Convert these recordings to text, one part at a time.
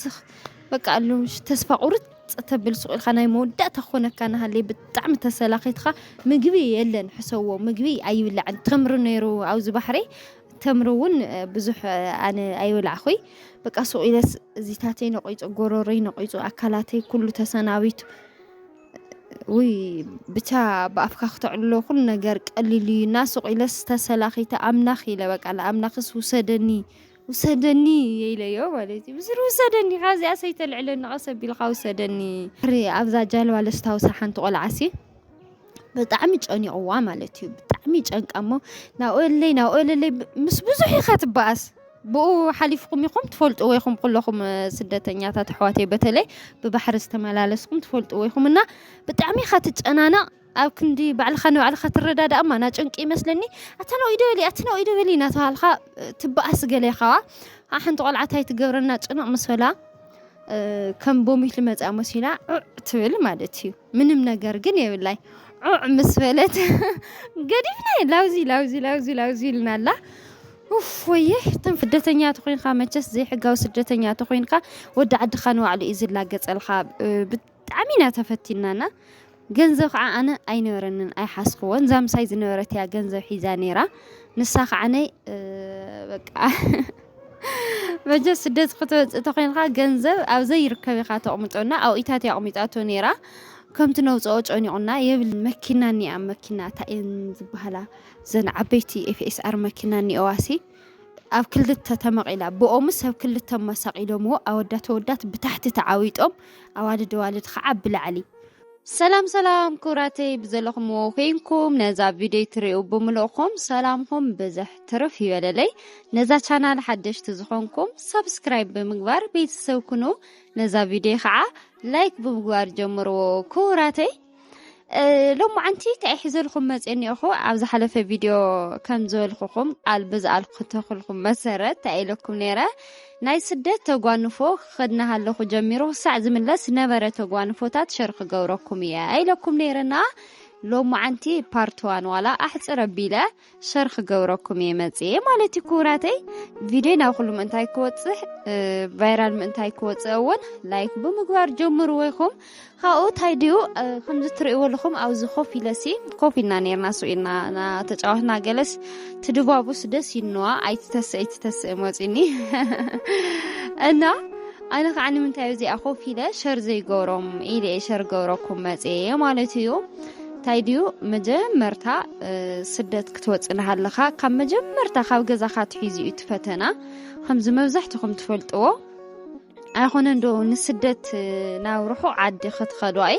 ስኽ በቃ ሎምሽ ተስፋ ቁርጽ ተብል ሱቕ ኢልካ ናይ መወዳእታ ክኾነካ ናሃለየ ብጣዕሚ ተሰላኺትኻ ምግቢ የለን ሕሰዎ ምግቢ ኣይብላዕን ተምሪ ነይሩ ኣብዚ ባሕረይ ተምሪ እውን ብዙሕ ኣነ ኣይበላዕኹይ በቃ ሱቕ ኢለስ እዚታተይ ነቂጹ ጎሮሮይ ነቂጹ ኣካላተይ ኩሉ ተሰናቢቱ ውይ ብቻ ብኣፍካ ክተዕልሎ ኩሉ ነገር ቀሊል እዩ እና ሱቕ ኢለስ ተሰላኺተ ኣምላኽ ኢለ በቃ ንኣምላኽስ ውሰደኒ ውሰደኒ ኢለዮ ማለት እዩ ብስሩ ውሰደኒ ካብዚኣስ ኣይተልዕለኒ ቀስ ኣቢልካ ውሰደኒ ድሕሪ ኣብዛ ጃልባ ለስታውሳ ሓንቲ ቆልዓሲ ብጣዕሚ ጨኒቕዋ ማለት እዩ ብጣዕሚ ጨንቃ እሞ ናብኦለይ ናብኦለለይ ምስ ብዙሕ ኢኻ ትበኣስ ብኡ ሓሊፍኩም ኢኹም ትፈልጥዎ ኢኹም ኩለኹም ስደተኛታት ኣሕዋተይ በተለይ ብባሕሪ ዝተመላለስኩም ትፈልጥዎ ኢኹም እና ብጣዕሚ ኢኻ ትጨናነቕ ኣብ ክንዲ ባዕልኻ ንባዕልኻ ትረዳዳእ እማ ናጨንቂ ይመስለኒ ኣታ ናብኡይ ዶ በሊ ኣቲ ናብኡይ ዶ በሊ ናተባሃልኻ ትበኣስ ገለ ኢኻ ዋ ሓንቲ ቆልዓ ታይ ትገብረና ጭንቕ ምስ በላ ከም ቦሚት ልመፅኣ መሲላ ዑዕ ትብል ማለት እዩ ምንም ነገር ግን የብላይ ዑዕ ምስ በለት ገዲፍና ላውዚ ላውዚ ላውዚ ላውዚ ኢልና ኣላ ወየ ተን ስደተኛ ተኮይንካ መቸስ ዘይሕጋዊ ስደተኛ ተኮይንካ ወዲ ዓድካ ንባዕሉ እዩ ዝላገፀልካ ብጣዕሚ ኢና ተፈቲና እና ገንዘብ ከዓ ኣነ ኣይነበረንን ኣይሓስክዎን እዛ ምሳይ ዝነበረት እያ ገንዘብ ሒዛ ነይራ ንሳ ከዓነይ በቃ መጀ ስደት ክትወፅእ ተኮይንካ ገንዘብ ኣብ ዘይርከብ ኢካ ተቕምጦና ኣብኢታት ኣቕሚጣቶ ነይራ ከምቲ ነውፅኦ ጨኒቑና የብል መኪና እኒኣ መኪና ታይን ዝበሃላ ዘን ዓበይቲ ኤፍኤስኣር መኪና እኒኦዋሲ ኣብ ክልተ ተመቒላ ብኦምስ ሰብ ክልተ ማሳቒሎምዎ ኣወዳት ኣወዳት ብታሕቲ ተዓዊጦም ኣዋልድ ኣዋልድ ከዓ ብላዕሊ ሰላም ሰላም ክብራተይ ብዘለኹምዎ ኮይንኩም ነዛ ቪድዮ ትሪኡ ብምልእኹም ሰላምኹም ብዝሕ ትርፍ ይበለለይ ነዛ ቻናል ሓደሽቲ ዝኾንኩም ሳብስክራይብ ብምግባር ቤተሰብ ኩኑ ነዛ ቪድዮ ከዓ ላይክ ብምግባር ጀምርዎ ክብራተይ ሎም መዓንቲ እንታይ ሒዘልኩም መፅ እኒኦኹ ኣብ ዝሓለፈ ቪድዮ ከም ዝበልኩኹም ቃል ብዝኣልኩተክልኩም መሰረት እንታይ ኢለኩም ነይረ ናይ ስደት ተጓንፎ ክኸድ እናሃለኹ ጀሚሩ ክሳዕ ዝምለስ ነበረ ተጓንፎታት ሸር ክገብረኩም እየ ኢለኩም ነይረና ሎም መዓንቲ ፓርትዋን ዋላ ኣሕፅር ኣቢለ ሸር ክገብረኩም እየ መፅየ ማለት እዩ ክቡራተይ ቪድዮ ናብ ኩሉ ምእንታይ ክወፅሕ ቫይራል ምእንታይ ክወፅእ እውን ላይክ ብምግባር ጀምሩ ወይኹም ካብኡ እንታይ ድዩ ከምዚ ትርእይዎ ኣለኹም ኣብዚ ኮፍ ኢለሲ ኮፍ ኢልና ነርና ሱ ኢልና ተጫዋትና ገለስ ትድባቡስ ደስ ይንዋ ኣይትተስእ ኣይትተስእ መፅኒ እና ኣነ ከዓ ንምንታይ እዚኣ ኮፍ ኢለ ሸር ዘይገብሮም ኢለ ሸር ገብረኩም መፅየ ማለት እዩ ታይ ድዩ መጀመርታ ስደት ክትወጽእ ናሃለኻ ካብ መጀመርታ ካብ ገዛኻ ኣትሒዙ እዩ እቲ ፈተና ከምዚ መብዛሕትኹም ትፈልጥዎ ኣይኾነን ዶ ንስደት ናብ ርሑቕ ዓዲ ክትኸዱ ኣይ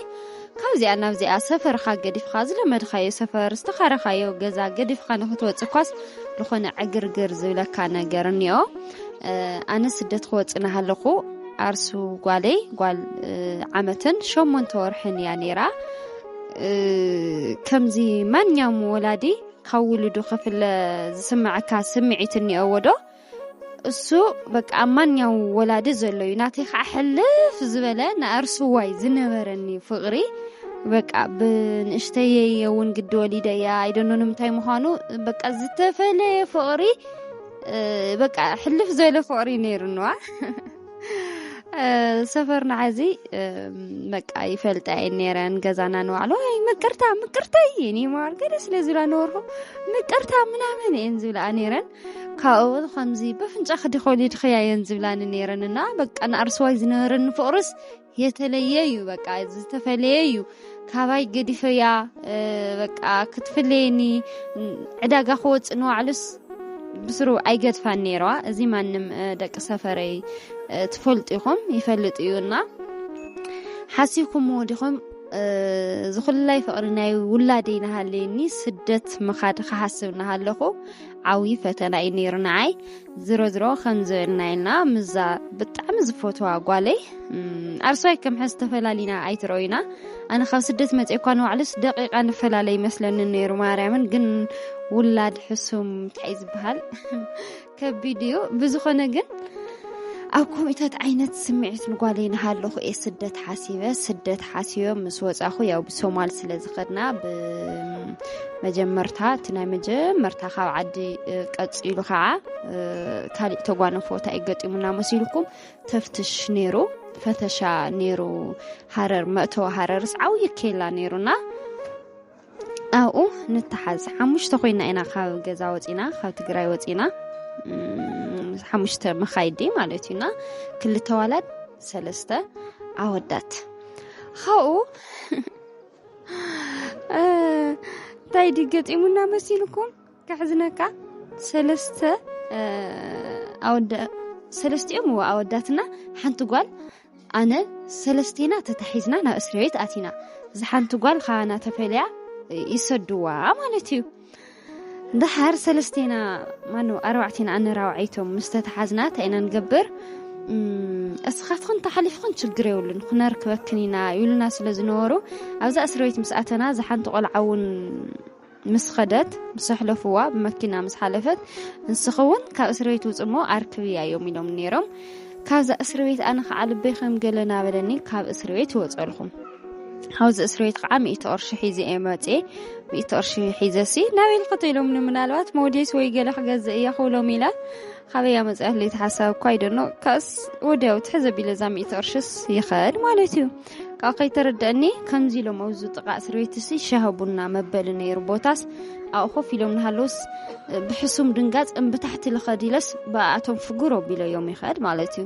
ካብዚኣ ናብዚኣ ሰፈርኻ ገዲፍኻ ዝለመድኻዮ ሰፈር ዝተኻረኻዮ ገዛ ገዲፍኻ ንክትወጽእ ኳስ ዝኾነ ዕግርግር ዝብለካ ነገር እኒኦ ኣነ ስደት ክወጽእ ናሃለኹ ኣርሱ ጓለይ ጓል ዓመትን ሸሞንተ ወርሕን እያ ነይራ ከምዚ ማንኛውም ወላዲ ካብ ውሉዱ ክፍለ ዝስምዐካ ስምዒት እኒኦዎ ዶ እሱ በቃ ኣብ ማንኛው ወላዲ ዘሎ እዩ ናተይ ከዓ ሕልፍ ዝበለ ንኣርስዋይ ዝነበረኒ ፍቕሪ በቃ ብንእሽተየ የውን ግዲ ወሊደ እያ ኣይደኖ ንምንታይ ምዃኑ በቃ ዝተፈለየ ፍቕሪ በቃ ሕልፍ ዝበለ ፍቕሪ ነይሩንዋ ሰፈርና ሐዚ በቃ ይፈልጣ እየን ነይረን ገዛና ንባዕሉ ኣይ ምቅርታ ምቅርታ እየ እኔ መባል ገለ ስለ ዝብላ ነበርኩ ምቅርታ ምናምን እየን ዝብላ ነይረን ካብኡ ከምዚ በፍንጫ ክዲ ኮሊድክያ እየን ዝብላኒ ነይረን እና በቃ ንኣርስዋይ ዝነበረኒ ፍቅርስ የተለየ እዩ በቃ ዝተፈለየ እዩ ካባይ ገዲፈያ በቃ ክትፍለየኒ ዕዳጋ ክወፅእ ንዋዕሉስ ብስሩ ኣይገድፋን ነይረዋ እዚ ማንም ደቂ ሰፈረይ ትፈልጡ ኢኹም ይፈልጥ እዩና ሓሲብኩምዎ ዲኹም ዝኹላይ ፍቕሪ ናይ ውላደይ ናሃለየኒ ስደት ምኻድ ክሓስብ ናሃለኹ ዓብዪ ፈተና እዩ ነይሩ ንዓይ ዝሮዝሮ ከምዝበልናየና ምዛ ብጣዕሚ ዝፈትዋ ጓለይ ኣርሶይ ከም ሕዝ ተፈላሊና ኣይትረዩና ኣነ ካብ ስደት መፅኦ እኳ ንባዕሉስ ደቂቃ ንፈላለ ይመስለኒ ነይሩ ማርያምን ግን ውላድ ሕሱም እንታይ ዝበሃል ከቢድ እዩ ብዝኾነ ግን ኣብ ኮሚታት ዓይነት ስምዒት ንጓለይ ንሃለኹ እየ ስደት ሓሲበ ስደት ሓሲበ ምስ ወፃኹ ያው ብሶማል ስለ ዝኸድና መጀመርታ እቲ ናይ መጀመርታ ካብ ዓዲ ቀፂሉ ከዓ ካሊእ ተጓነፎ እንታይ እዩ ገጢሙና መሲልኩም ተፍትሽ ነይሩ ፈተሻ ነይሩ ሃረር መእተዊ ሃረርስ ዓብዪ ኬላ ነይሩና ኣብኡ ንተሓዝ ሓሙሽተ ኮይና ኢና ካብ ገዛ ወፂና ካብ ትግራይ ወፂና ሓሙሽተ መኻይዲ ማለት እዩና ክልተ ዋላት ሰለስተ ኣወዳት ካብኡ እንታይ ዲ ገጢሙና መሲልኩም ከሕዝነካ ሰለስተ ኣወዳ ሰለስቲኦም እዎ ኣወዳትና ሓንቲ ጓል ኣነ ሰለስቴና ተታሒዝና ናብ እስር ቤት ኣቲና እዛ ሓንቲ ጓል ካባና ተፈልያ ይሰድዋ ማለት እዩ ደሓር ሰለስተና ማነው ኣርባዕቴና ኣነራውዓይቶም ምስ ተተሓዝና እንታይ ኢና ንገብር እስኻትክን ተሓሊፍክን ችግር የብሉን ክነርክበክን ኢና ይብሉና ስለ ዝነበሩ ኣብዛ እስሪ ቤት ምስ ኣተና ዝሓንቲ ቆልዓ እውን ምስ ኸደት ምስ ኣሕለፍዋ ብመኪና ምስ ሓለፈት ንስኺ እውን ካብ እስሪ ቤት ውፅሞ ኣርክብያ እዮም ኢሎም ነይሮም ካብዛ እስሪ ቤት ኣነ ከዓ ልበይ ከም ገለ ናበለኒ ካብ እስሪ ቤት ይወፀልኹም ሓውዚ እስርቤት ከዓ ሚእቲ ቅርሺ ሒዘ እየ መፅኤ ሚእቲ ቅርሺ ሒዘ ሲ ናበይ ልክቶ ኢሎምኒ ምናልባት ሞዴስ ወይ ገለ ክገዝእ እያ ክብሎም ኢለ ካበያ መፅኣት ለይቲ ሓሳብ እኳ ይደኖ ካስ ወዲያው ትሕዘ ቢለ እዛ ሚእቲ ቅርሽስ ይኸድ ማለት እዩ ካብ ከይተረድአኒ ከምዚ ኢሎም ኣብዚ ጥቃ እስርቤት ሲ ሻሃቡና መበሊ ነይሩ ቦታስ ኣብኡ ኮፍ ኢሎም ንሃለውስ ብሕሱም ድንጋፅ እምብታሕቲ ልኸድ ኢለስ ብኣቶም ፍጉር ኣቢለዮም ይኸድ ማለት እዩ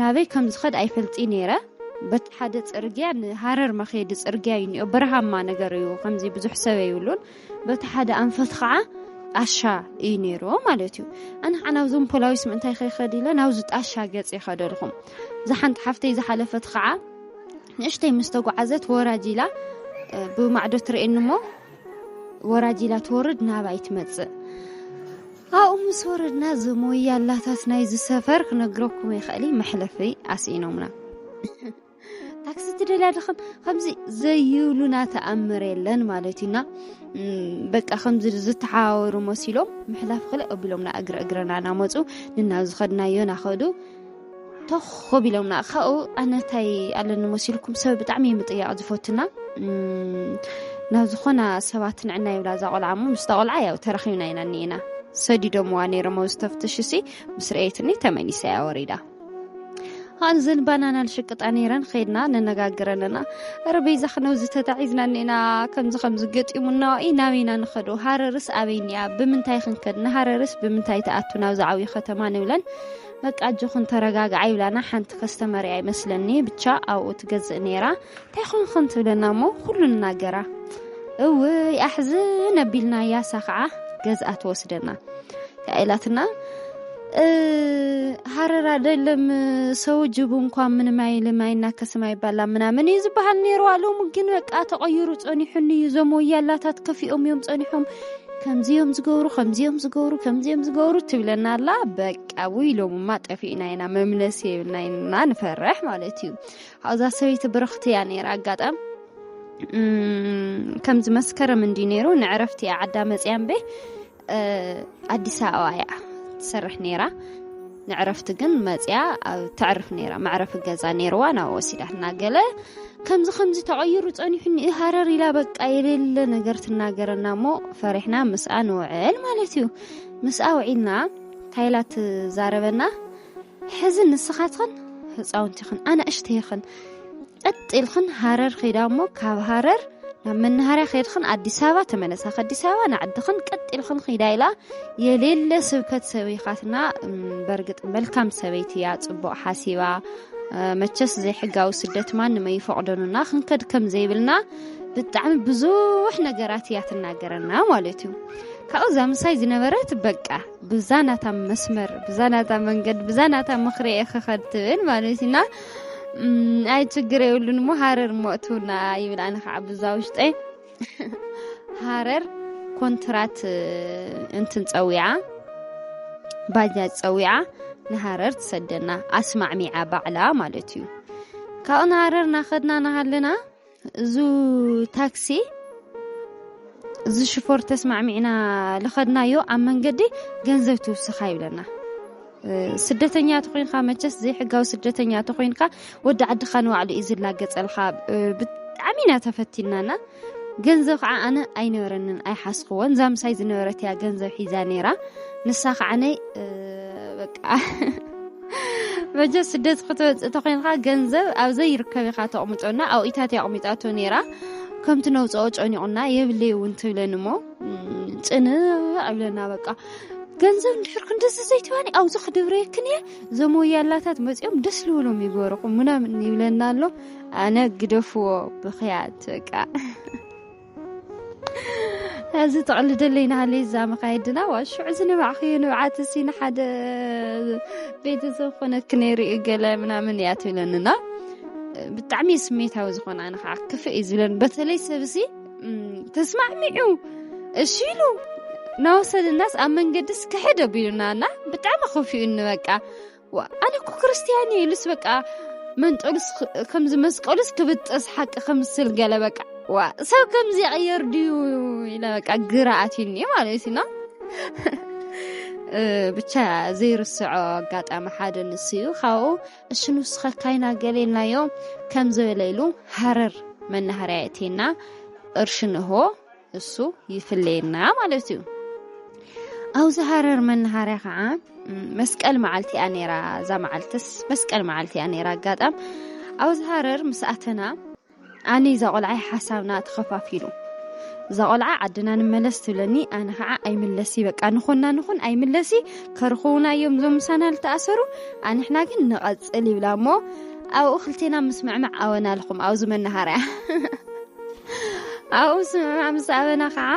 ናበይ ከም ዝኸድ ኣይፈልጥይ ነይረ በቲ ሓደ ፅርግያ ንሃረር መኸዲ ፅርግያ እዩ እኒኦ በረሃማ ነገር እዩ ከምዚ ብዙሕ ሰብ ኣይብሉን በቲ ሓደ ኣንፈት ከዓ ጣሻ እዩ ነይሩ ማለት እዩ ኣነ ከዓ ናብዞም ፖላዊስ ምእንታይ ከይኸድ ኢለ ናብዚ ጣሻ ገፅ ይኸደልኹም እዛ ሓንቲ ሓፍተይ ዝሓለፈት ከዓ ንእሽተይ ምስ ተጓዓዘት ወራጅ ኢላ ብማዕዶ ትርእየኒ እሞ ወራጅ ኢላ ትወርድ ናባይ ትመፅእ ኣብኡ ምስ ወረድና እዞም ወያላታት ናይዚ ሰፈር ክነግረኩም ይኽእል መሕለፊ ኣስኢኖምና ታክሲ ትደልያ ድኽም ከምዚ ዘይብሉና ተኣምር የለን ማለት እዩና በቃ ከምዚ ዝተሓዋወሩ መሲሎም ምሕላፍ ክልእ ኣቢሎምና እግረ እግረና እናመፁ ንናብ ዝኸድናዮ ናኸዱ ተኾብ ኢሎምና ካብኡ ኣነ እንታይ ኣለኒ መሲልኩም ሰብ ብጣዕሚ እዩ ምጥያቕ ዝፈቱና ናብ ዝኾና ሰባት ንዕና ይብላ እዛ ቆልዓ እሞ ምስታ ቆልዓ ያው ተራኺብና ኢና እኒኤና ሰዲዶምዋ ነይሮም ኣብ ዝተፍትሽ እሲ ምስ ርአየትኒ ተመሊሰ እያ ወሪዳ ኣን ዘንባናና ንሽቅጣ ነይረን ከይድና ነነጋግረንና ረ በይዛ ክነብዚ ተታዒዝና እኒኤና ከምዚ ከምዚ ገጢሙና ኢ ናበይና ንኸዶ ሃረርስ ኣበይኒያ ብምንታይ ክንከድ ንሃረርስ ብምንታይ ተኣቱ ናብዚ ዓብዪ ከተማ ንብለን በቃ ኣጆኽን ተረጋግዓ ይብላና ሓንቲ ከስተመር እያ ይመስለኒ ብቻ ኣብኡ ትገዝእ ነይራ እንታይ ኾንኽን ትብለና እሞ ኩሉ ንናገራ እውይ ኣሕዝን ኣቢልና ያሳ ከዓ ገዝኣ ትወስደና እንታይ ኢላትና እ፣ ሃረር አይደለም ሰው ጅቡ እንኳን ምንም አይልም አይናከስም አይባላም ምናምን እዩ ዝበሃል ነይሩ ኣሎሙ ግን በቃ ተቐይሩ ጸኒሑኒ እዩ እዞም ወያላታት ከፊኦም እዮም ጸኒሖም ከምዚዮም ዝገብሩ ከምዚዮም ዝገብሩ ከምዚዮም ዝገብሩ ትብለና ኣላ በቃ ውይ ሎምማ ጠፊእና ኢና መምለሲ የብልና ኢና ንፈርሕ ማለት እዩ ኣብዛ ሰበይቲ ብርኽቲ እያ ነይራ ኣጋጣም ከምዚ መስከረም እንዲ ነይሩ ንዕረፍቲ እያ ዓዳ መፅያ እምበ ኣዲስ ኣበባ እያ ትሰርሕ ነይራ ንዕረፍቲ ግን መጽያ ኣብ ተዕርፍ ነይራ መዕረፊ ገዛ ነይርዋ ናብ ወሲዳትና ገለ ከምዚ ከምዚ ተቐይሩ ጸኒሑኒ ሃረር ኢላ በቃ የሌለ ነገር ትናገረና እሞ ፈሪሕና ምስኣ ንውዕል ማለት እዩ ምስኣ ውዒልና እንታይ ኢላ ትዛረበና ሕዚ ንስኻትኽን ህፃውንቲኽን ኣናእሽተይኽን ቀጥ ኢልክን ሃረር ኼዳ እሞ ካብ ሃረር ናብ መናሃርያ ከድክን ኣዲስ ኣበባ ተመለሳ ከኣዲስ ኣበባ ንዓድኽን ቀጢልኽን ኺዳ ኢላ የሌለ ስብከት ሰበይኻትና በርግጥ መልካም ሰበይቲ እያ ፅቡቕ ሓሲባ መቸስ ዘይሕጋዊ ስደት ማ ንመይፈቕደኑና ክንከድ ከም ዘይብልና ብጣዕሚ ብዙሕ ነገራት እያ ትናገረና ማለት እዩ ካብኡ እዛ ምሳይ ዝነበረት በቃ ብዛናታ መስመር ብዛናታ መንገድ ብዛናታ ምክሪ እየ ክኸድ ትብል ማለት እዩና ኣይ ችግር የብሉን እሞ ሃረር ሞእትውና ይብል ኣነ ከዓ ብዛ ውሽጠ ሃረር ኮንትራት እንትን ፀዊዓ ባጃጅ ፀዊዓ ንሃረር ትሰደና ኣስማዕሚዓ ባዕላ ማለት እዩ ካብኡ ንሃረር ናኸድና ናሃለና እዙ ታክሲ እዚ ሽፎር ተስማዕሚዕና ልኸድናዮ ኣብ መንገዲ ገንዘብ ትውስኻ ይብለና ስደተኛ ተኮይንካ መቸስ ዘይሕጋዊ ስደተኛ ተኮይንካ ወዲ ዓድኻ ንባዕሉ እዩ ዝላገፀልካ ብጣዕሚ ኢና ተፈቲናና ገንዘብ ከዓ ኣነ ኣይነበረንን ኣይሓስክዎን እዛ ምሳይ ዝነበረት እያ ገንዘብ ሒዛ ነይራ ንሳ ከዓ ነይ በቃ በጃ ስደት ክትወፅእ ተኮይንካ ገንዘብ ኣብ ዘይርከብ ኢካ ተቕምጦ እና ኣብኡ ኢታት እያ ኣቕሚጣቶ ነይራ ከምቲ ነውፅኦ ጨኒቑና የብለይ እውን ትብለኒ እሞ ፅንዕ እብለና በቃ ገንዘብ እንድሕር ክንደዚ ዘይትባኒ ኣብዚ ክድብረየክን እየ እዞም ወያላታት መፂኦም ደስ ልብሎም ይገበርኹም ምናምን ይብለና ኣሎ ኣነ ግደፍዎ ብክያት በቃ እዚ ተቕልደለይ ናሃለ ዛመ ካየድና ዋ ሽዑ ዝንባዕክዮ ንብዓት እሲ ንሓደ ቤተሰብ ኮነክ ነይሩ እዩ ገለ ምናምን እያ ትብለንና ብጣዕሚ ስሜታዊ ዝኾነ ኣነ ከዓ ክፍእ እዩ ዝብለን በተለይ ሰብሲ ተስማዕሚዑ እሺ ኢሉ ናወሰደናስ ኣብ መንገድስ ክሕድ ኣቢሉና እና ብጣዕሚ ከፊኡኒ በቃ ኣነ እኮ ክርስትያን እየ ኢሉስ በቃ መንጠሉስ ከምዚ መስቀሉስ ክብጥስ ሓቂ ከምስል ገለ በቃ ዋ ሰብ ከምዚ ይቕየር ድዩ ኢለ በቃ ግራ ኣትዩኒ ማለት ኢና ብቻ ዘይርስዖ ኣጋጣሚ ሓደ ንሱ እዩ ካብኡ እሺ ንስኸ ካይና ገሌልናዮ ከም ዝበለ ኢሉ ሃረር መናሃርያ የእትየና ቅርሺ ንሆ እሱ ይፍለየና ማለት እዩ ኣብዚ ሃረር መናሃርያ ከዓ መስቀል መዓልቲ እያ ነራ እዛ መዓልትስ መስቀል መዓልቲ እያ ነራ ኣጋጣም ኣብዚ ሃረር ምስ ኣተና ኣነ እዛ ቆልዓይ ሓሳብና ተኸፋፊሉ እዛ ቆልዓ ዓድና ንመለስ ትብለኒ ኣነ ከዓ ኣይምለሲ በቃ ንኹና ንኹን ኣይምለሲ ከርኽውና እዮም እዞም ምሳና ዝተኣሰሩ ኣንሕና ግን ንቐፅል ይብላ እሞ ኣብኡ ክልቴና ምስ ምዕማዕ ኣወና ኣለኹም ኣብዚ መናሃርያ ኣብኡ ስምምዕ ምስ ኣበና ከዓ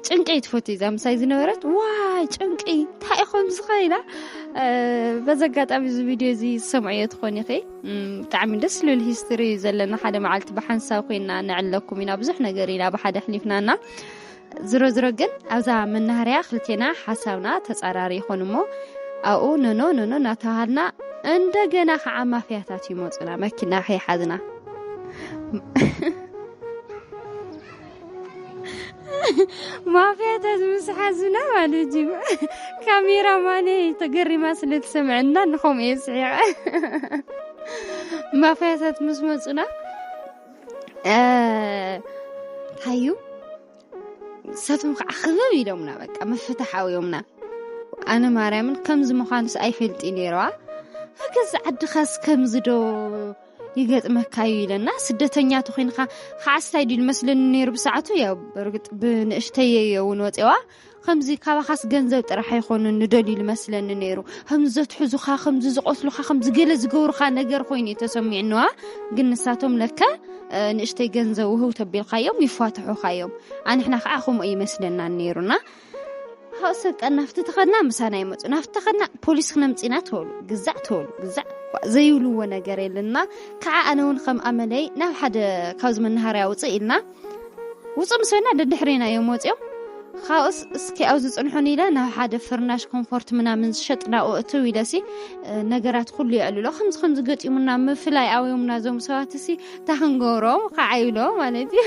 ጭንቂ ትፈቱ እዛ ምሳይ ዝነበረት ዋይ ጭንቂ እንታይ ኢኹም ዝኸኢላ በዚ ኣጋጣሚ እዚ ቪድዮ እዚ ዝሰምዐዮ ትኾን ኢኺ ብጣዕሚ ደስ ልብል ሂስትሪ እዩ ዘለና ሓደ መዓልቲ ብሓንሳብ ኮይና ንዕለኩም ኢና ብዙሕ ነገር ኢና ብሓደ ኣሕሊፍናና ዝሮዝሮ ግን ኣብዛ መናሃርያ ክልቴና ሓሳብና ተፃራሪ ይኾን እሞ ኣብኡ ኖኖ ኖኖ እናተባሃልና እንደገና ከዓ ማፍያታት ይመፁና መኪና ከይሓዝና ማፍያታት ምስ ሓዙና ማለት እዩ ካሜራ ማነ ተገሪማ ስለትሰምዐና ንኸምኡ እየ ስሒቐ ማፍያታት ምስ መፁና ሃዩ ንሳቶም ከዓ ክበብ ኢሎምና በቃ ምፍታሕ ኣውዮምና ኣነ ማርያምን ከምዚ ምዃንስ ኣይፈልጥ ነይረዋ ኣገዛ ዓድኻስ ከምዚ ዶ ይገጥመካ እዩ ኢለና ስደተኛ ተኮይንካ ሓስታይ ድዩ መስለኒ ነይሩ ብሰዓቱ ያው በርግጥ ብንእሽተየ እውን ወፂዋ ከምዚ ካባኻስ ገንዘብ ጥራሕ ኣይኮኑን ንደልዩ ዝመስለኒ ነይሩ ከምዚ ዘትሕዙኻ ከምዚ ዝቆስሉኻ ከምዚ ገለ ዝገብሩኻ ነገር ኮይኑ እዩ ተሰሚዕንዋ ግን ንሳቶም ለካ ንእሽተይ ገንዘብ ውህው ተቢልካዮም ይፏትሑኻ እዮም ኣንሕና ከዓ ከምኡ ይመስለና ነይሩና ሃው ሰብ ቀናፍቲ ተኸድና ምሳና ይመፁ ናፍቲ ተኸድና ፖሊስ ክነምፅና ተበሉ ግዛዕ ተበሉ ግዛዕ ዘይብልዎ ነገር የለና ከዓ ኣነ እውን ከም ኣመለይ ናብ ሓደ ካብዚ መናሃርያ ውፅእ ኢልና ውጹእ ምስ በልና ደድሕሬና እዮም ወጺኦም ካብኡስ እስኪ ኣብዚ ጽንሑን ኢለ ናብ ሓደ ፍርናሽ ኮምፎርት ምናምን ዝሸጥ ናብኡ እትው ኢለሲ ነገራት ኩሉ የዕልሎ ከምዚ ከምዚ ገጢሙና ምፍላይ ኣውዮምና ዞም ሰባት እሲ እታ ክንገብሮም ከዓይሎ ማለት እዩ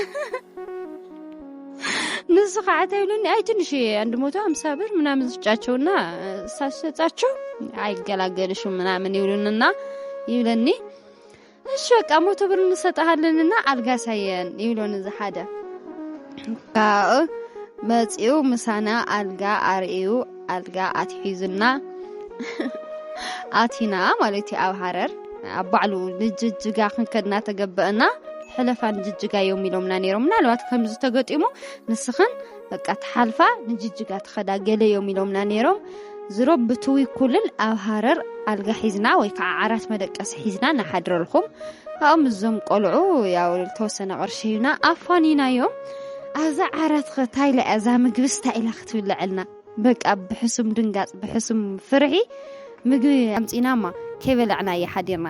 ንሱ ከዓ ተብሉኒ ኣይ ትንሽ አንድ መቶ ሀምሳ ብር ምናምን ስጫቸውና ሳሸጫቸው አይገላገልሽም ምናምን ይብሉንና ይብለኒ እሺ በቃ መቶ ብር እንሰጥሃለንና ኣልጋ ሳየን ይብሎ ንዚ ሓደ ካእ መፂኡ ምሳና ኣልጋ ኣርእዩ ኣልጋ ኣትሒዙና ኣቲና ማለት እዩ ኣብ ሃረር ኣብ ባዕሉ ንጅጅጋ ክንከድና ተገበአና ሕለፋን ጅጅጋ እዮም ኢሎምና ነይሮም ምናልባት ከምዚ ተገጢሙ ንስኽን በቃ ትሓልፋ ንጅጅጋ ትኸዳ ገለ እዮም ኢሎምና ነይሮም ዝሮ ብትዊ ኩልል ኣብ ሃረር ኣልጋ ሒዝና ወይ ከዓ ዓራት መደቀሲ ሒዝና ንሓድረልኩም ካብኦም እዞም ቆልዑ ያው ተወሰነ ቅርሺ ሂብና ኣፋኒናዮም ኣብዛ ዓራት ኸ እንታይ ኢላ እያ እዛ ምግብስ እንታይ ኢላ ክትብልዐልና በቃ ብሕሱም ድንጋፅ ብሕሱም ፍርሒ ምግቢ ኣምፂናማ ከይበላዕና እየ ሓዲርና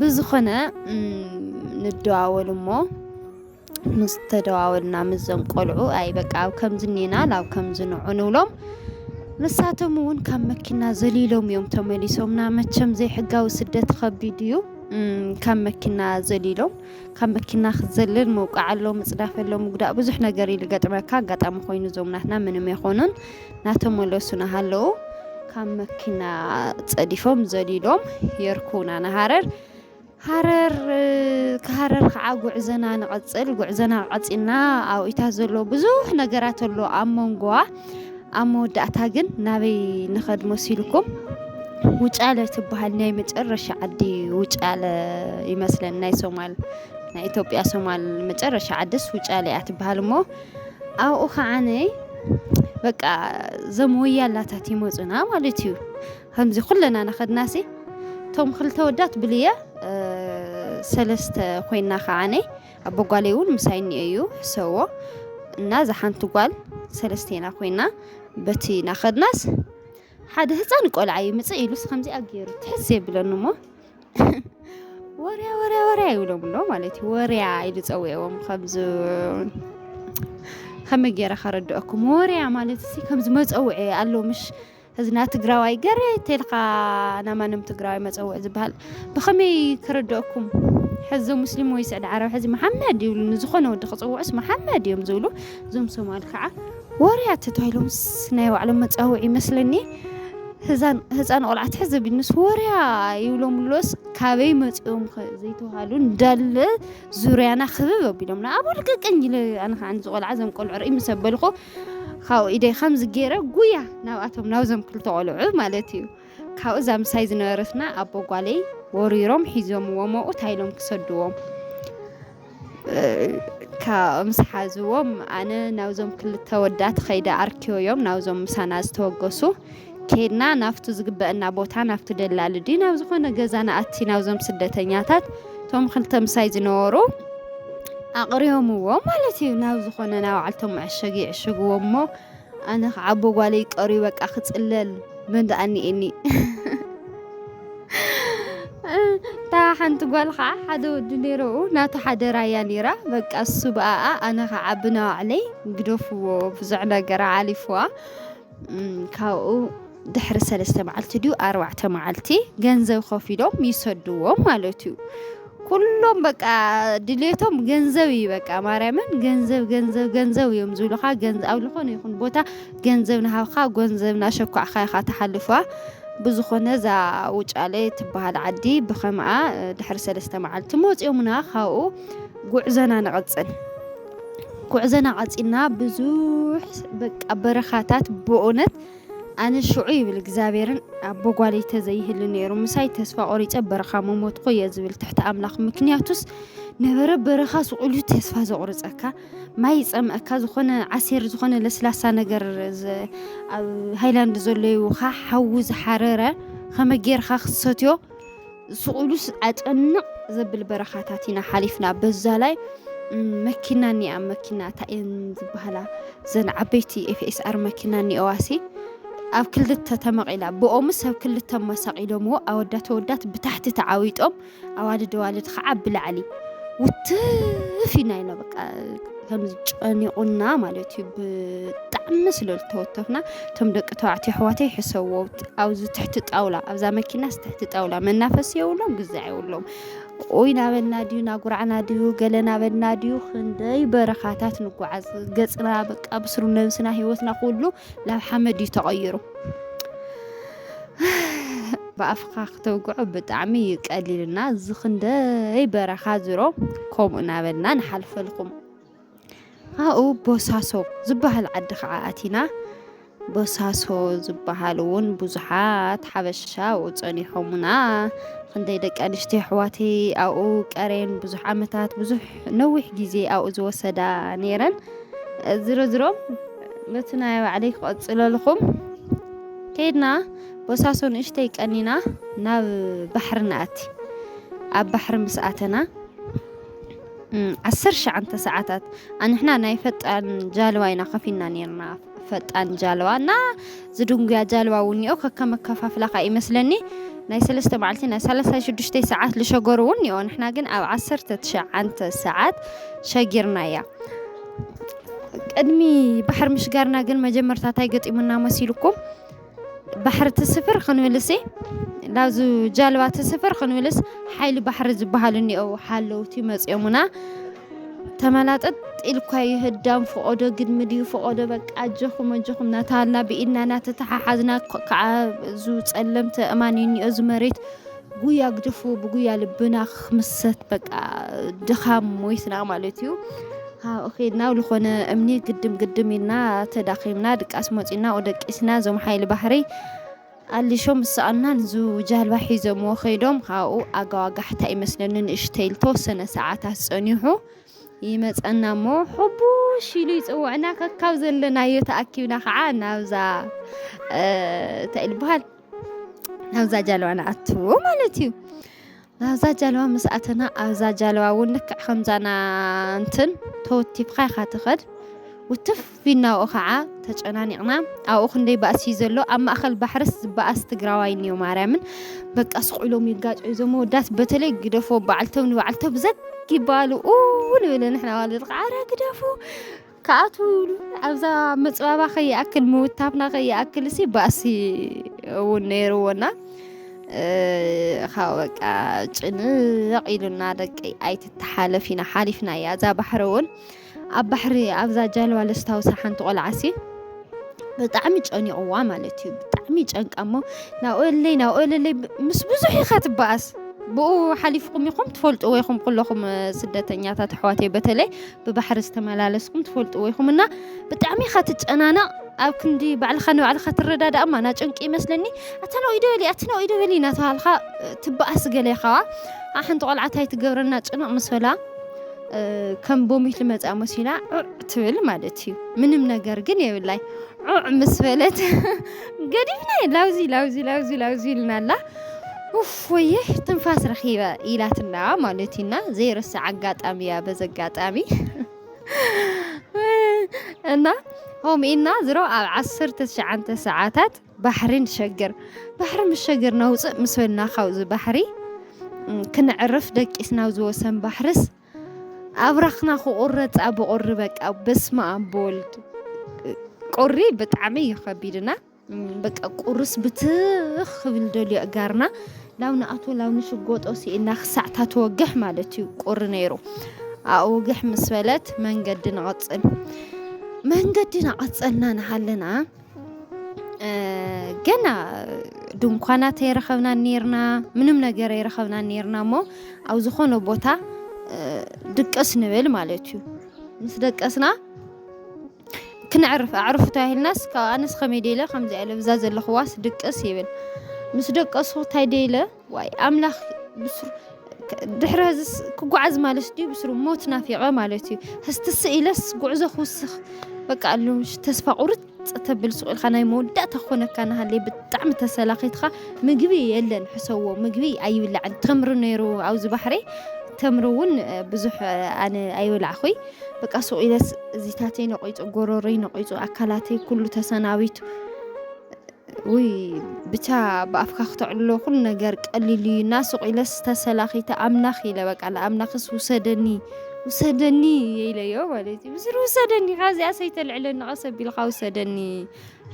ብዝኾነ ንደዋወል እሞ ምስ ተደዋወልና ምስዞም ቆልዑ ኣይ በቃ ኣብ ከምዚ እኔና ናብ ከምዚ ንዑ ንብሎም ንሳቶም እውን ካብ መኪና ዘሊሎም እዮም ተመሊሶምና። መቸም ዘይሕጋዊ ስደት ከቢድ እዩ። ካብ መኪና ዘሊሎም ካብ መኪና ክትዘልል ምውቃዕ ኣሎ፣ ምፅዳፍ ኣሎ፣ ምጉዳእ ብዙሕ ነገር እዩ ዝገጥመካ። ኣጋጣሚ ኮይኑ እዞም ናትና ምንም ኣይኮኑን። ናተመለሱ ናሃለዉ ካብ መኪና ጸዲፎም ዘሊሎም የርኩና ንሃረር ሃረር ክሃረር ከዓ ጉዕዘና ንቐጽል ጉዕዘና ቀጺልና ኣብ ኢታ ዘሎ ብዙሕ ነገራት ኣሎ ኣብ መንጎዋ ኣብ መወዳእታ ግን ናበይ ንኸድ መሲልኩም ውጫለ ትበሃል ናይ መጨረሻ ዓዲ ውጫለ ይመስለን ናይ ሶማል ናይ ኢትዮጵያ ሶማል መጨረሻ ዓድስ ውጫለ እያ ትበሃል እሞ ኣብኡ ከዓነ በቃ ዘም ወያላታት ይመፁና ማለት እዩ ከምዚ ኩለና ናኸድናሲ እቶም ክልተ ወዳት ብልየ ሰለስተ ኮይና ከዓነ ኣቦ ጓለይ እውን ምሳይ እኒኦ እዩ ሕሰዎ እና እዛ ሓንቲ ጓል ሰለስተና ኮይና በቲ ናኸድናስ ሓደ ህፃን ቆልዓ ይምፅእ ኢሉስ ከምዚኣ ገይሩ ትሕስ የብለኒ እሞ ወርያ ወርያ ወርያ ይብሎም ኣሎ ማለት እዩ ወርያ ኢሉ ፀዊዕዎም ከምዚ ከመይ ገይረ ከረድአኩም ወርያ ማለት ሲ ከምዚ መፀውዒ ኣሎ ምሽ ህዝና ትግራዋይ ገረ ተልካ ናማንም ትግራዋይ መፀውዒ ዝበሃል ብከመይ ከረድአኩም ሕዚ ሙስሊም ወይ ስዕዲ ዓረብ ሕዚ መሓመድ ይብሉ ንዝኾነ ወዲ ክፅውዑስ መሓመድ እዮም ዝብሉ እዞም ሶማል ከዓ ዋርያት ተታሂሎምስ ናይ ባዕሎም መጻውዒ ይመስለኒ ህዛን ህጻን ቆልዓ ትሕዝ ኣቢልንስ ወርያ ይብሎም ኣሎስ ካበይ መጺኦም ከ ዘይተባሃሉ እንዳለ ዙርያና ክብብ ኣቢሎምና ኣብ ልቅቅኝ ኢለ ኣነ ከዓ ንዚ ቆልዓ ዘም ቆልዑ ርኢ ምስ ኣበልኩ ካብኡ ኢደይ ከምዚ ገይረ ጉያ ናብኣቶም ናብዞም ክልተ ቆልዑ ማለት እዩ ካብኡ እዛ ምሳይ ዝነበረትና ኣቦ ጓለይ ወሪሮም ሒዞምዎ መኡ እንታይ ኢሎም ክሰድዎም ምስ ሓዝዎም ኣነ ናብዞም ክልተ ወዳት ኸይደ ኣርኪዮዮም ናብዞም ምሳና ዝተወገሱ ኬድና ናብቱ ዝግበአና ቦታ ናብቲ ደላሊ ድዩ ናብ ዝኾነ ገዛ ንኣቲ ናብዞም ስደተኛታት እቶም ክልተ ምሳይ ዝነበሩ ኣቕሪዮምዎ ማለት እዩ ናብ ዝኾነ ናባዓልቶም መዐሸጊ ይዕሽግዎ እሞ ኣነ ክዓ ኣቦ ጓለይ ቀርዩ በቃ ክፅለል መን ደኣ እኒኤኒ እታ ሓንቲ ጓል ከዓ ሓደ ወዲ ነይረኡ ናቱ ሓደ ራያ ነይራ በቃ እሱ ብኣኣ ኣነ ከዓ ብናባዕለይ ግደፍዎ ብዙሕ ነገር ዓሊፍዋ ካብኡ ድሕሪ ሰለስተ መዓልቲ ድዩ ኣርባዕተ መዓልቲ ገንዘብ ከፊሎም ይሰድዎም ማለት እዩ ኩሎም በቃ ድሌቶም ገንዘብ እዩ በቃ ማርያምን ገንዘብ ገንዘብ ገንዘብ እዮም ዝብሉኻ ገንዘብ ኣብ ዝኾነ ይኹን ቦታ ገንዘብ ናሃብካ ገንዘብ ናሸኳዕካ ኢኻ ትሓልፋ ብዝኾነ እዛ ውጫለ ትበሃል ዓዲ ብኸምኣ ድሕሪ ሰለስተ መዓልቲ መፂኦምና ካብኡ ጉዕዘና ንቐፅል ጉዕዘና ቐፂልና ብዙሕ በቃ በረኻታት ብእውነት ኣነ ሽዑ ይብል እግዚኣብሔርን ኣቦ ጓለይ ተዘይህሉ ነይሩ ምሳይ ተስፋ ቆሪፀ በረኻ ምሞትኩ እየ ዝብል ትሕቲ ኣምላኽ ምክንያቱስ ነበረ በረኻ ስቑሉ ተስፋ ዘቑርፀካ ማይ ይፀምአካ ዝኾነ ዓሲር ዝኾነ ለስላሳ ነገር ኣብ ሃይላንድ ዘሎ ይውካ ሓዊ ዝሓረረ ከመ ጌርካ ክትሰትዮ ስቕ ኢሉስ ኣጨንቕ ዘብል በረኻታት ኢና ሓሊፍና በዛላይ መኪና እኒኣ መኪና እታ እየን ዝበሃላ ዘን ዓበይቲ ኤፍኤስኣር መኪና እኒኦዋሲ ኣብ ክልተ ተመቒላ ብኦሙ ሰብ ክልተ መሳቒሎምዎ ኣወዳት ወዳት ብታሕቲ ተዓዊጦም ኣዋልድ ኣዋልድ ከዓ ብላዕሊ ውትፍ ኢና ኢና በቃ ከምዚ ጨኒቑና ማለት እዩ ብጣዕሚ ስለ ዝተወተፍና እቶም ደቂ ተባዕትዮ ኣሕዋተይ ሕሰዎ ኣብዚ ትሕቲ ጣውላ ኣብዛ መኪናስ ትሕቲ ጣውላ መናፈሲ የብሎም ግዛዕ የብሎም ኦይ ናበልና ድዩ ናጉራዕና ድዩ ገለ ናበልና ድዩ ክንደይ በረኻታት ንጓዓዝ ገፅና በቃ ብስሩ ነብስና ሂወትና ኩሉ ናብ ሓመድ እዩ ተቐይሩ ብኣፍካ ክተውግዖ ብጣዕሚ እዩ ቀሊልና እዚ ክንደይ በረኻ ዝሮ ከምኡ እናበልና ንሓልፈልኩም ኣብኡ ቦሳሶ ዝበሃል ዓዲ ከዓ ኣቲና ቦሳሶ ዝበሃል እውን ብዙሓት ሓበሻ ኣብኡ ፀኒሖሙና ክንደይ ደቂ ኣንስትዮ ኣሕዋተይ ኣብኡ ቀሬን ብዙሕ ዓመታት ብዙሕ ነዊሕ ግዜ ኣብኡ ዝወሰዳ ነይረን ዝሮ ዝሮ ነቲ ናይ ባዕለይ ክቐፅለልኹም ከይድና ቦሳሶ ንእሽተይ ቀኒና ናብ ባሕሪ ንኣቲ ኣብ ባሕሪ ምስ ኣተና ዓሰርተ ሸዓንተ ሰዓታት ኣንሕና ናይ ፈጣን ጃልባ ኢና ከፊና ነርና ፈጣን ጃልባ እና ዝድንጉያ ጃልባ እውን እኒኦ ከከም ኣከፋፍላ ከዓ ይመስለኒ ናይ ሰለስተ መዓልቲ ናይ ሰላሳ ሽዱሽተይ ሰዓት ዝሸገሩ እውን እኒኦ ንሕና ግን ኣብ ዓሰርተ ትሸዓንተ ሰዓት ሸጊርና እያ ቅድሚ ባሕሪ ምሽጋርና ግን መጀመርታ እንታይ ገጢሙና መሲልኩም? ባሕሪ ትስፍር ክንብልሲ ላብዚ ጃልባ ትስፍር ክንብልስ ሓይሊ ባሕሪ ዝበሃል እኒኦ ሓለውቲ መፂኦምና ተመላጠጥ ኢልኳ ይህዳም ፍቖዶ ግድሚ ድዩ ፍቖዶ በቃ ኣጆኹም ኣጆኹም እናተባህልና ብኢድና እናተተሓሓዝና ካብ እዚ ፀለምቲ ኣእማን እዩ እኒኦ እዚ መሬት ጉያ ግድፉ ብጉያ ልብና ክምሰት በቃ ድኻም ሞይትና ማለት እዩ ካብኡ ከድና ዝኾነ እምኒ ግድም ግድም ኢልና ተዳኺምና ድቃስ መፂና ደቂስና እዞም ሓይሊ ባሕሪ ኣሊሾም ምስኣና ንዙ ጃልባ ሒዞምዎ ከይዶም ካብኡ ኣጋዋጋሕታ ይመስለኒ ንእሽተይ ዝተወሰነ ሰዓታት ፀኒሑ ይመፀና እሞ ሕቡሽ ኢሉ ይፅውዕና ከካብ ዘለናዮ ተኣኪብና ከዓ ናብዛ እንታይ ይበሃል ናብዛ ጃለዋ ንኣትዎ ማለት እዩ ናብዛ ጃለዋ ምስ ኣተና ኣብዛ ጃለዋ እውን ልክዕ ከምዛና እንትን ተወቲፍካ ኢኻ ትኸድ ውትፍ ቢናኡ ከዓ ተጨናኒቕና ኣብኡ ክንደይ ባእሲ እዩ ዘሎ ኣብ ማእኸል ባሕርስ ዝበኣስ ትግራዋይ እኒዮ ማርያምን በቃ ስቑኢሎም ይጋጭ እዞም መወዳት በተለይ ግደፎ በዓልቶም ንበዓልቶ ብዘግ ይባሉ ንብል ንሕና ዋልድርካ ዓረ ግደፉ ክኣትዉሉ ኣብዛ ምፅባባ ከይኣክል ምውታፍና ከይኣክል ሲ ባእሲ እውን ነይርዎና ካብ በቃ ጭንቕ ኢሉና ደቂ ኣይትተሓለፍ ኢና ሓሊፍና እያ እዛ ባሕሪ እውን ኣብ ባሕሪ ኣብዛ ጃልባ ለስታውሳ ሓንቲ ቆልዓሲ ብጣዕሚ ጨኒቕዋ ማለት እዩ ብጣዕሚ ጨንቃ እሞ ናብኦለይ ናብኦለለይ ምስ ብዙሕ ኢኻ ትበኣስ ብኡ ሓሊፍኩም ኢኹም ትፈልጥዎ ይኹም ኩለኹም ስደተኛታት ኣሕዋተይ በተለይ ብባሕሪ ዝተመላለስኩም ትፈልጥዎ ኢኹም እና ብጣዕሚ ኢኻ ትጨናነቕ ኣብ ክንዲ ባዕልኻ ንባዕልኻ ትረዳዳእ እማ ናጨንቂ ይመስለኒ ኣታ ናብኡ ኢደ በሊ ኣቲ ናብኡ ኢደ በሊ እናተባሃልካ ትበኣስ ገለ ኢኻ ሓንቲ ቆልዓ እንታይ ትገብረና ጭንቕ ምስ በላ ከም ቦሚት ልመፃ መሲላ ዑዕ ትብል ማለት እዩ ምንም ነገር ግን የብላይ ዑዕ ምስ በለት ገዲፍና ላውዚ ላውዚ ላውዚ ላውዚ ኢልና ኣላ ኡፍ ወየ ትንፋስ ረኺበ ኢላትና ማለት እዩና ዘይርሳዕ ኣጋጣሚ እያ በዚ ኣጋጣሚ እና ኦም ኢና ዝሮ ኣብ ዓሰርተ ትሽዓተ ሰዓታት ባሕሪ ንሸግር ባሕሪ ምስ ሸግር ነውፅእ ምስ በልና ካብዚ ባሕሪ ክንዕርፍ ደቂስና ኣብ ዝወሰን ባሕርስ ኣብራኽና ክቑረፅ ኣብ ቁሪ በቃ በስመ ኣብ ብወልድ ቁሪ ብጣዕሚ እዩ ከቢድና በቃ ቁርስ ብትኽ ክብል ደልዮ እጋርና ላው ንኣቶ ላው ንሽጎጦ ስኢና ክሳዕ ታተወግሕ ማለት እዩ ቁሪ ነይሩ ኣወግሕ ምስ በለት መንገዲ ንቐፅል መንገዲ ናቐፀልና ንሃለና ገና ድንኳናት ኣይረኸብና ነርና ምንም ነገር ኣይረኸብና ነርና እሞ ኣብ ዝኾነ ቦታ ድቀስ ንብል ማለት እዩ ምስ ደቀስና ክነዕርፍ ኣዕርፉ ተባሂልናስ ካብ ኣነስ ከመይ ደይ ኢለ ከምዚኣ ኢለ ብዛ ዘለኹዋስ ድቅስ ይብል ምስ ደቀሱ እንታይ ደይ ኢለ ዋይ ኣምላኽ ብስሩ ድሕሪ ህዝስ ክጓዓዝ ማለት ድዩ ብስሩ ሞት ናፊቐ ማለት እዩ ህስትስ ኢለስ ጉዕዞ ክውስኽ በቃ ኣሉ ተስፋ ቁርፅ ተብል ሱቕ ኢልካ ናይ መወዳእታ ክኾነካ ናሃለይ ብጣዕሚ ተሰላኺትካ ምግቢ የለን ሕሰዎ ምግቢ ኣይብላዕን ተምሪ ነይሩ ኣብዚ ባሕሪ ተምሪ እውን ብዙሕ ኣነ ኣይበላዕኹይ በቃ ሱቕ ኢለስ እዚታተይ ነቂፁ ጎሮሮይ ነቂፁ ኣካላተይ ኩሉ ተሰናቢቱ ውይ ብቻ ብኣፍካ ክተዕልሎ ኩሉ ነገር ቀሊል እዩ እና ሱቕ ኢለስ ተሰላኺተ ኣምላኽ ኢለ በቃ ንኣምላኽስ ውሰደኒ ውሰደኒ የኢለዮ ማለት እዩ ምስሪ ውሰደኒ ካብዚኣ ሰይተልዕለኒ ቀስ ኣቢልካ ውሰደኒ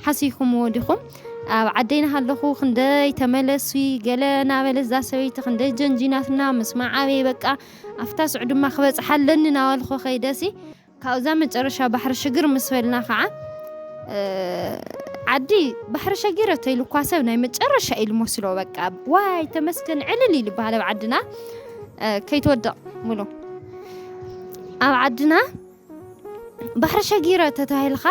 ሓሲኹምዎ ዲኹም ኣብ ዓደይ ናሃለኹ ክንደይ ተመለሲ ገለ ናበለ እዛ ሰበይቲ ክንደይ ጀንጂናትና ምስ መዓበይ በቃ ኣብታ ስዑ ድማ ክበጽሓ ኣለኒ ናበልኩ ከይደሲ ካብዛ መጨረሻ ባሕሪ ሽግር ምስ በልና ከዓ ዓዲ ባሕሪ ሸጊረቶ ኢሉ እኳ ሰብ ናይ መጨረሻ ኢሉ መስሎ በቃ ዋይ ተመስገን ዕልል ኢሉ ይበሃል ኣብ ዓድና ከይትወድቕ ሙሉ ኣብ ዓድና ባሕሪ ሸጊረ ተታሂልኻ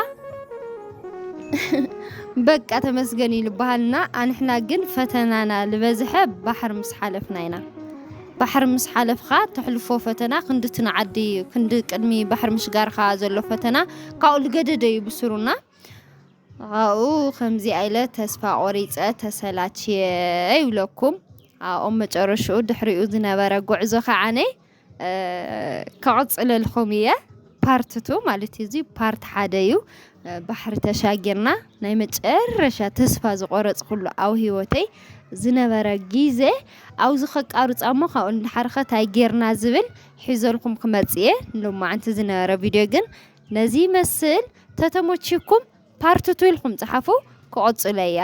በቃ ተመስገን እዩ ልበሃልና ኣንሕና ግን ፈተናና ልበዝሐ ባሕሪ ምስ ሓለፍና ኢና ባሕሪ ምስ ሓለፍካ ተሕልፎ ፈተና ክንዲ ትንዓዲ እዩ ክንዲ ቅድሚ ባሕሪ ምሽጋርካ ዘሎ ፈተና ካብኡ ልገደደ እዩ ብስሩና ካብኡ ከምዚ ኣይለ ተስፋ ቆሪፀ ተሰላችየ ይብለኩም ኣብኦም መጨረሽኡ ድሕሪኡ ዝነበረ ጉዕዞ ከዓነ ከቕፅለልኹም እየ ፓርት ቱ ማለት እዩ። እዚ ፓርት ሓደ እዩ። ባሕሪ ተሻጊርና ናይ መጨረሻ ተስፋ ዝቆረፅኩሉ ኣብ ሂወተይ ዝነበረ ግዘ ኣብዚ ከቃርፆ እሞ ካብኡ ንደሓር ከ ታይ ጌርና ዝብል ሒዘልኩም ክመፅእ እየ። ሎማዓንቲ ዝነበረ ቪድዮ ግን ነዚ ይመስል ተተሞቺኩም ፓርት ቱ ኢልኩም ፀሓፉ ክቕፅሎ እየ።